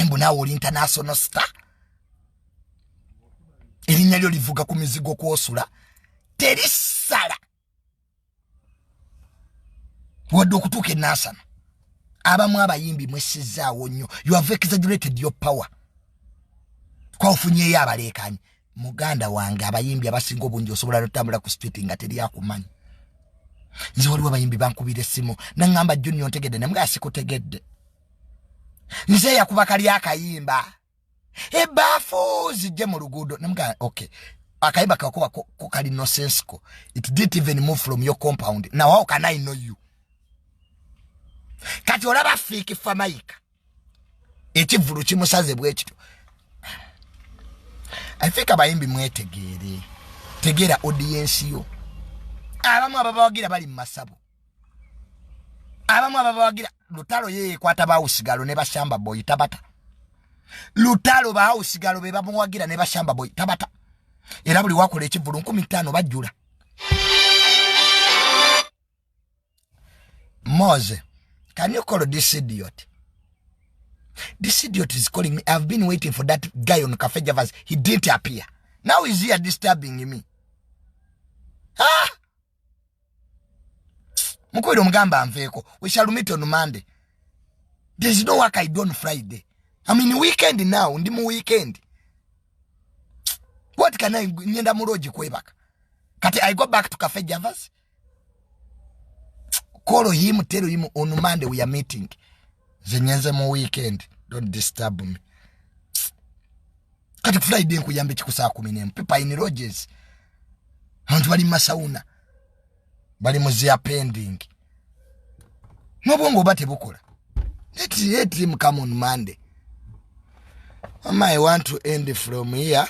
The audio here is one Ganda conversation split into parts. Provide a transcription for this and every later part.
mbu naawe oli international star erinnya lyo livuga ku mizigo kwosula terisala wadde okutuuka enansana abamu abayimbi mwesizaawo nnyo you have exaggerated your power kwaofunyeyo abaleekanyi muganda wange abayimbi abasinga obungi osobola notambula ku street nga teri akumanyi nze waliwo abayimbi bankubira essimu naŋamba junior ntegedde namuga sikutegedde nze yakuba kali akayimba ebaafu zijje mu luguudo namugaa okay akayimba kakuba ko kali nosensico it didn't even move from your compound now how can i know you kati olaba fiiki famayika ekivulu kimusaze bwekityo i think abayimbi mwetegeere tegeera odiyensi yo abamu ababawagira bali mu masabo abamu ababawagira lutalo yeyekwata bawusigalo ne bashamba boy tabata lutalo bawusigalo be bamuwagira ne bashamba boy tabata era buli wakola ekivulu nkumi ttaano bajjula mose can you call this idiot this idiot is calling me i've been waiting for that guy on cafe javas he didn't appear now is here disturbing me ah mukubira omugamba anveeko we shall meet on monday there is no work i do on friday i mean weekend now ndi mu weekend what can i ngenda mu lodge kwebaka kati i go back to cafe javas call him tell him on monday we are meeting nze ngenze mu weekend don't disturb me kati friday nkuyambe kikusaa kumi nemu pipa in roges abantu bali mumasauna bali muzia pending nobwongo oba tebukola etim come on monday ama i want to end from here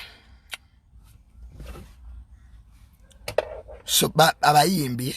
so abayimbi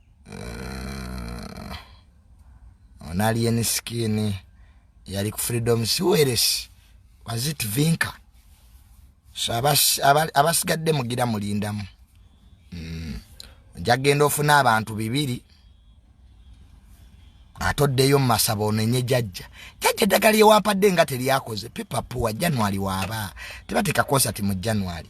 uh, on alien skin yali ku freedom siweres was it vinka so abasigadde mugira mulindamu mm. njagenda ofuna abantu bibiri ate oddeyo mu masaba onenye jajja jajja eddagala lyewampadde nga teryakoze pipapuwa january waaba tebateeka konsati mu january